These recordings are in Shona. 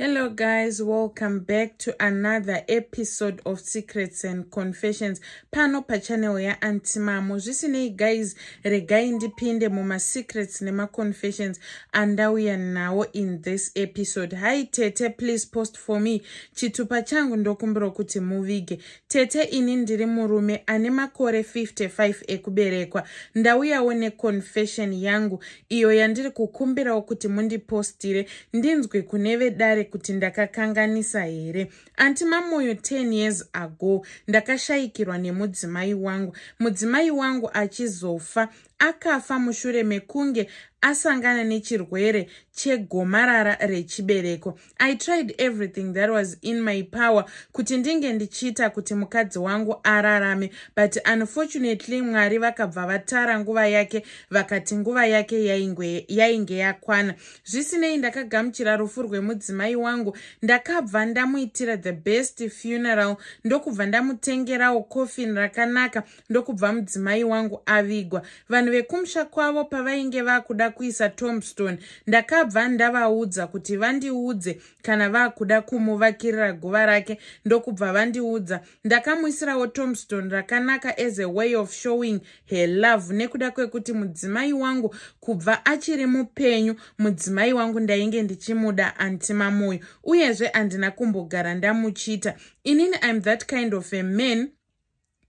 Hello guys, welcome back to another episode of Secrets and Confessions pano pachannel yaAntimamo. Zvisinei guys, regai ndipinde mumasecrets nemaconfessions andauya nawo in this episode. Hi Tete, please post for me. Chitupa changu ndokumbiro kuti muvige. Tete ini ndiri murume ane makore 55 ekuberekwa. Ndauyawo neconfession yangu iyo yandiri kukumbirawo kuti mundipostire ndinzwe kune vedare kuti ndakakanganisa here anti mamoyo 10 years ago ndakashayikirwa nemudzimai wangu mudzimai wangu achizofa akafa mushure mekunge asangana nechirwere chegomarara rechibereko i tried everything that was in my power kuti ndinge ndichiita kuti mukadzi wangu ararame but unfortunately mwari vakabva vatara nguva yake vakati nguva yake yainge yakwana zvisinei ndakagamuchira rufu rwemudzimai wangu ndakabva ndamuitira the best funeral ndokubva ndamutengerawo coffin rakanaka ndokubva mudzimai wangu avigwa vanhu vekumusha kwavo pavainge vakuda kuisa tombstone ndakabva ndavaudza kuti vandiudze kana vakuda kumuvakirira guva rake ndokubva vandiudza ndakamuisirawo tombstone rakanaka as a way of showing her love nekuda kwekuti mudzimai wangu kubva achiri mupenyu mudzimai wangu ndainge ndichimuda antimamoyo uyezve handina kumbogara ndamuchita inini im that kind of a man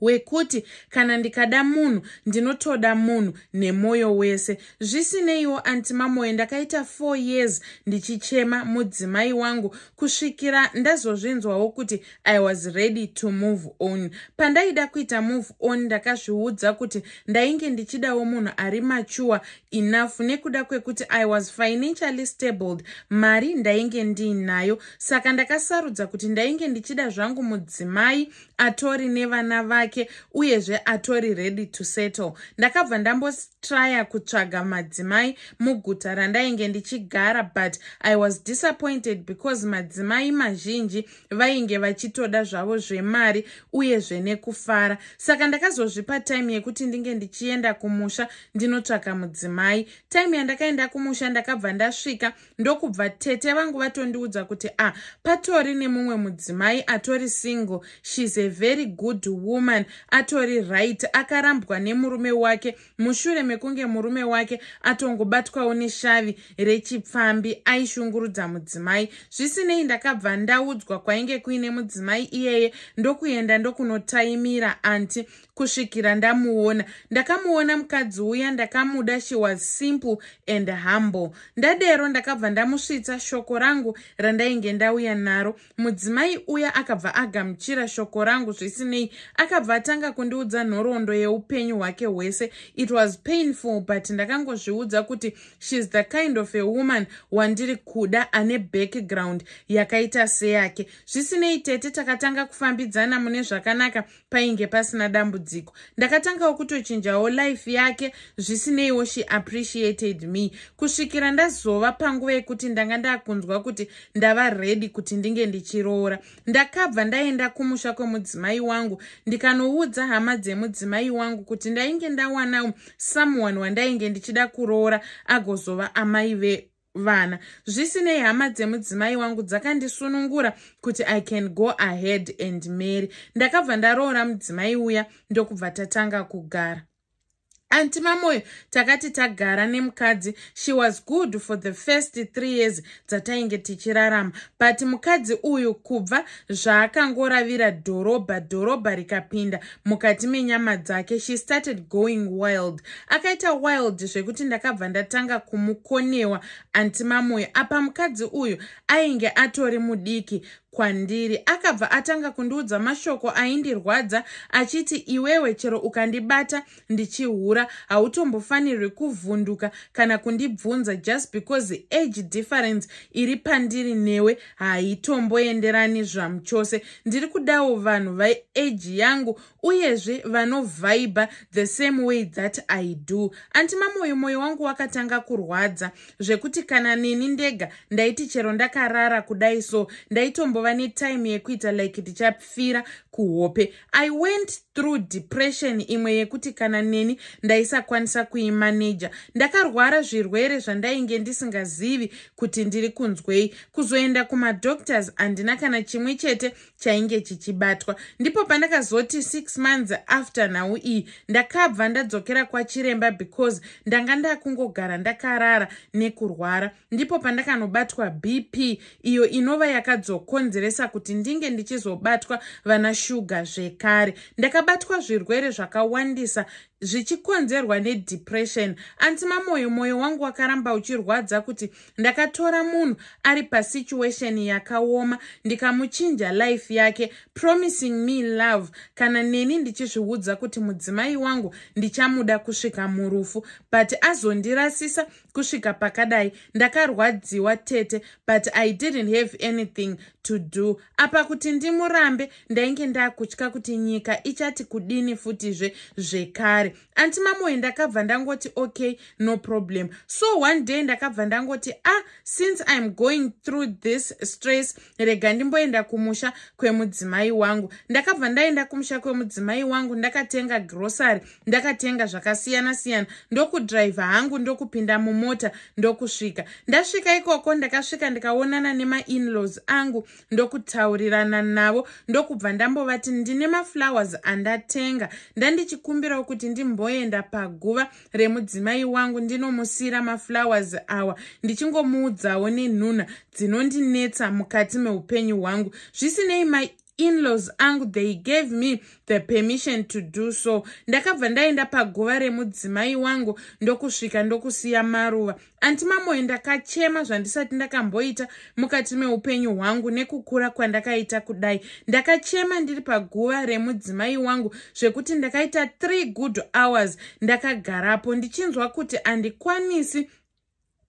wekuti kana ndikada munhu ndinotoda munhu nemwoyo wese zvisineiwo anti mamoyo ndakaita four years ndichichema mudzimai wangu kusvikira ndazozvinzwawo kuti i was ready to move on pandaida kuita move on ndakazviudza kuti ndainge ndichidawo munhu ari machuwa enough nekuda kwekuti i was financially stabled mari ndainge ndiinayo saka ndakasarudza kuti ndainge ndichida zvangu mudzimai atori nevana vake uyezve atori ready to settle ndakabva ndambotrya kutsvaga madzimai muguta randainge ndichigara but i was disappointed because madzimai mazhinji vainge vachitoda zvavo zvemari uye zvenekufara saka ndakazozvipa time yekuti ndinge ndichienda kumusha ndinotsvaka mudzimai time yandakaenda kumusha ndakabva ndasvika ndokubva tete vangu vatondiudza kuti a ah, patori nemumwe mudzimai atori single shes a very good woman atori right akarambwa nemurume wake mushure mekunge murume wake atongobatwawo neshavi rechipfambi aishungurudza mudzimai zvisinei ndakabva ndaudzwa kwainge kuine mudzimai iyeye ndokuenda ndokunotaimira anti kusvikira ndamuona ndakamuona mukadzi uya ndakamuda she was simple and humble ndadero ndakabva ndamusvitsa shoko rangu randainge ndauya naro mudzimai uya akabva agamuchira shoko rangu zvisinei akabva atanga kundiudza nhoroondo yeupenyu hwake hwese it was painful but ndakangozviudza kuti sheis the kind of a woman wandiri kuda ane background yakaita seyake zvisinei tete takatanga kufambidzana mune zvakanaka painge pasina dambudziko ndakatangawo kutochinjawo life yake zvisineiwo she appreciated me kusvikira ndazova panguva yekuti ndanga ndakunzwa kuti ndava ready kuti ndinge ndichiroora ndakabva ndaenda kumusha kwemudzimai wangu ndikanoudza hama dzemudzimai wangu kuti ndainge ndawanawo someone wandainge ndichida kuroora agozova amai ve vana zvisinei hama dzemudzimai wangu dzakandisunungura kuti i can go ahead and mary ndakabva ndaroora mudzimai uya ndokubva tatanga kugara anti mamoyo takati tagara nemukadzi she was good for the first three years dzatainge tichirarama but mukadzi uyu kubva zvaakangoravira dhorobha dhorobha rikapinda mukati menyama dzake she started going wild akaita wild zvekuti ndakabva ndatanga kumukonewa anti mamoyo apa mukadzi uyu ainge atori mudiki kwandiri akabva atanga kundiudza mashoko aindirwadza achiti iwewe chero ukandibata ndichihura hautombofanirwi kuvhunduka kana kundibvunza just because age difference iri pandiri newe haitomboenderani zvamuchose ndiri kudawo vanhu vaeji yangu uyezve vanovhaibha the same way that i do anti mamoyo moyo wangu wakatanga kurwadza zvekuti kana neni ndega ndaiti chero ndakarara kudai so ndaitombova netime yekuita like ndichapfira kuhope I went through depression imwe yekuti kana neni ndaisakwanisa kuimaneja. Ndakarwara zvirwere zvandainge ndisingazivi kuti ndiri kunzwei. Kuzoenda kumadoctors handina kana chimwe chete chainge chichibatwa. Ndipo pandakazoti six months after nhau iyi ndakabva ndadzokera kwachiremba because ndanga ndakungogara ndakarara nekurwara. ndipo pandakanobatwa bp iyo inova yakadzokonzeresa kuti ndinge ndichizobatwa vana shuga zvekare ndakabatwa zvirwere zvakawandisa zvichikonzerwa nedepression anti mamoyo mwoyo wangu wakaramba uchirwadza kuti ndakatora munhu ari pasituation yakaoma ndikamuchinja life yake promising me love kana neni ndichizviudza kuti mudzimai wangu ndichamuda kusvika murufu but azondirasisa kusvika pakadai ndakarwadziwa tete but i didn't have anything to do apa kuti ndimurambe ndainge ndakutya kuti nyika ichati kudini futizve zvekare anti mamoe ndakabva ndangoti okay no problem so one day ndakabva ndangoti ah since iam going through this stress rega ndimboenda kumusha kwemudzimai wangu ndakabva ndaenda kumusha kwemudzimai wangu ndakatenga grocery ndakatenga zvakasiyana siyana ndokudriver hangu ndokupinda mumota ndokusvika ndasvika ikoko ndakasvika ndikaonana nemainlaws angu ndokutaurirana navo ndokubva ndambovati ndine maflowers andatenga ndandichikumbirawo kuti ndimboenda paguva remudzimai wangu ndinomusiyira maflowers awa ndichingomuudzawo nenhuna dzinondinetsa mukati meupenyu hwangu zvisinei my inlaws angu they gave me the permission to do so ndakabva ndaenda paguva remudzimai wangu ndokusvika ndokusiya maruva Anti Mamoe ndakachema zvandisati ndakamboita mukati meupenyu hwangu nekukura kwandakaita kudai. Ndakachema ndiri paguva remudzimai wangu zvekuti ndakaita three good hours ndakagarapo ndichinzwa kuti andikwanisi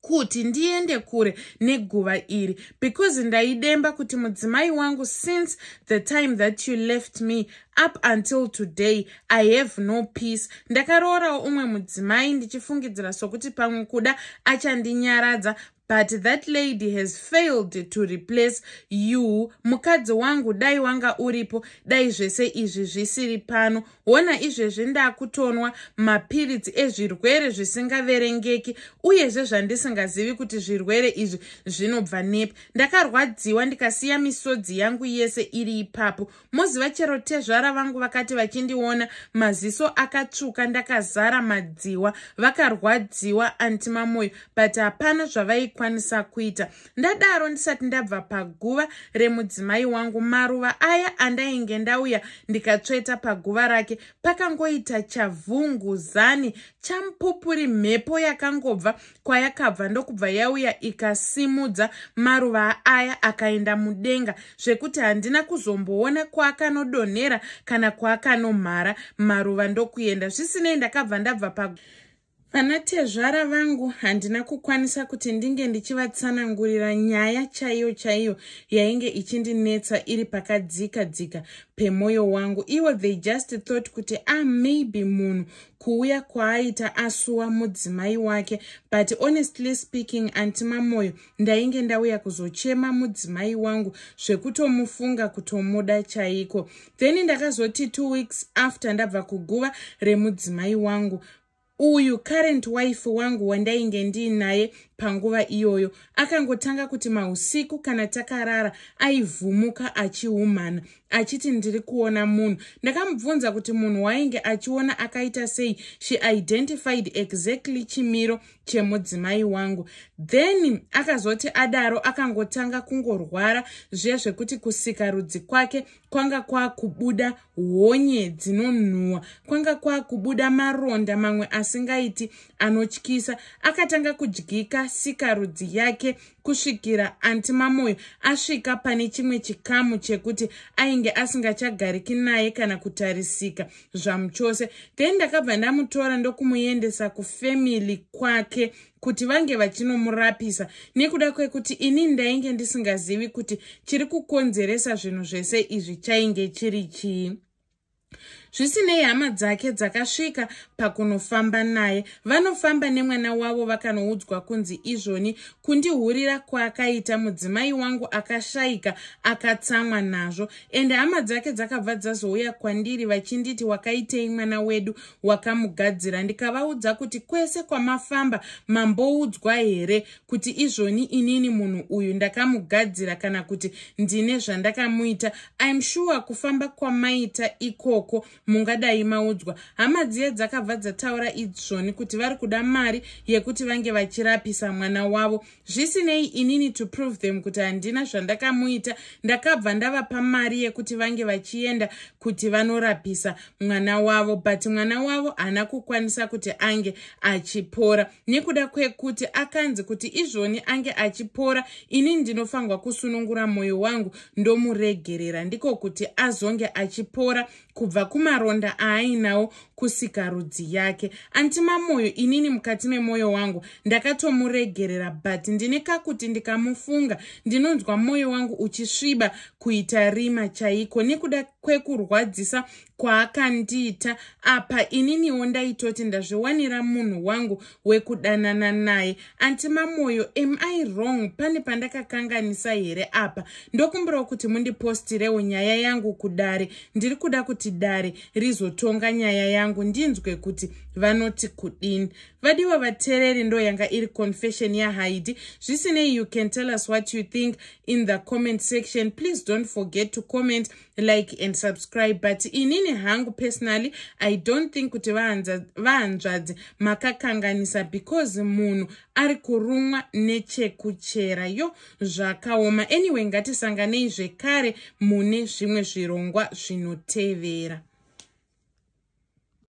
kuti ndiende kure neguva iri because ndaidemba kuti mudzimai wangu since the time that you left me up until today i have no peace ndakaroorawo umwe mudzimai ndichifungidzira sokuti pamwe kuda achandinyaradza but that lady has failed to replace you mukadzi wangu dai wanga uripo dai zvese izvi zvisiri pano hona izvezvi ndakutonwa mapiritsi ezvirwere zvisingaverengeki uyezve zvandisingazivi kuti zvirwere izvi zvinobva nepi ndakarwadziwa ndikasiya misodzi yangu yese iri ipapo moziva chero tezvara vangu vakati vachindiona maziso akatsvuka ndakazara madziwa vakarwadziwa anti mamoyo but hapana zvavaikwanisa kuita ndadaro ndisati ndabva paguva remudzimai wangu maruva aya andainge ndauya ndikatsveta paguva rake pakangoita chavhungu zani champupuri mhepo yakangobva kwayakabva ndokubva yauya ikasimudza maruva aya akaenda mudenga zvekuti handina kuzomboona kwaakanodonhera kana kwaakanomhara maruva ndokuenda zvisinei ndakabva ndabva pa vana tezvara vangu handina kukwanisa kuti ndinge ndichivatsanangurira nyaya chaiyo chaiyo yainge ichindinetsa iri pakadzika dzika pemwoyo wangu ivo they just thought kuti ah maybe munhu kuuya kwaaita asuwa mudzimai wake but honestly speaking anti mamoyo ndainge ndauya kuzochema mudzimai wangu zvekutomufunga kutomuda chaiko then ndakazoti two weeks after ndabva kuguva remudzimai wangu uyu current wife wangu wandainge ndiinaye panguva iyoyo akangotanga kuti mausiku kana takarara aivhumuka achiumhana achiti ndiri kuona munhu ndakamubvunza kuti munhu wainge achiona akaita sei she identified exactly chimiro chemudzimai wangu then akazoti adaro akangotanga kungorwara zviya zvekuti kusika rudzi kwake kwanga kwakubuda honye dzinonhuwa kwanga kwakubuda maronda mamwe asingaiti anotyisa akatanga kudyika sika rudzi yake kusvikira anti mamoyo asvika pane chimwe chikamu chekuti ainge asingachagariki naye kana kutarisika zvamuchose then ndakabva ndamutora ndokumuendesa kufamily kwake kuti vange vachinomurapisa nekuda kwekuti ini ndainge ndisingazivi kuti chiri kukonzeresa zvinhu zvese izvi chainge chiri chii zvisinei hama dzake dzakasvika pakunofamba naye vanofamba nemwana wavo vakanoudzwa kunzi izvoni kundihurira kwaakaita mudzimai wangu akashaika akatsamwa nazvo ende hama dzake dzakabva dzazouya kwandiri vachinditi wakaitei mwana wedu wakamugadzira ndikavaudza kuti kwese kwamafamba mamboudzwa here kuti izvoni inini munhu uyu ndakamugadzira kana kuti ndine zvandakamuita im sure kufamba kwamaita ikoko mungadai maudzwa hama dziye dzakabva dzataura izvoni kuti vari kuda mari yekuti vange vachirapisa mwana wavo zvisinei inini to prove them kuti handina zvandakamuita ndakabva ndavapa mari yekuti vange vachienda kuti vanorapisa mwana wavo but mwana wavo haana kukwanisa kuti ange achipora nekuda kwekuti akanzi kuti izvoni ange achipora ini ndinofanirwa kusunungura mwoyo wangu ndomuregerera ndiko kuti azonge achipora kubva kumaronda aainawo kusika rudzi yake antima mwoyo inini mukati memwoyo wangu ndakatomuregerera but ndine kakuti ndikamufunga ndinonzwa mwoyo wangu uchisviba kuita rima chaiko nekuda kwekurwadzisa kwaakandiita apa ininiwo ndaitoti ndazviwanira munhu wangu wekudanana naye anti mamoyo am i wrong pane pandakakanganisa here apa ndokumbirawo kuti mundipostirewo nyaya yangu kudare ndiri kuda kuti dare rizotonga nyaya yangu ndinzwe kuti vanoti kudini vadiwa vatereri ndo yanga iri confession yahaidi zvisinei you can tell us what you think in the comment section please don't forget to comment like and subscribe but inini hangu personally i don't think kuti vahanzvadzi makakanganisa because munhu ari kurumwa nechekuchera yo zvakaoma anyway ngatisanganei zvekare mune zvimwe zvirongwa zvinotevera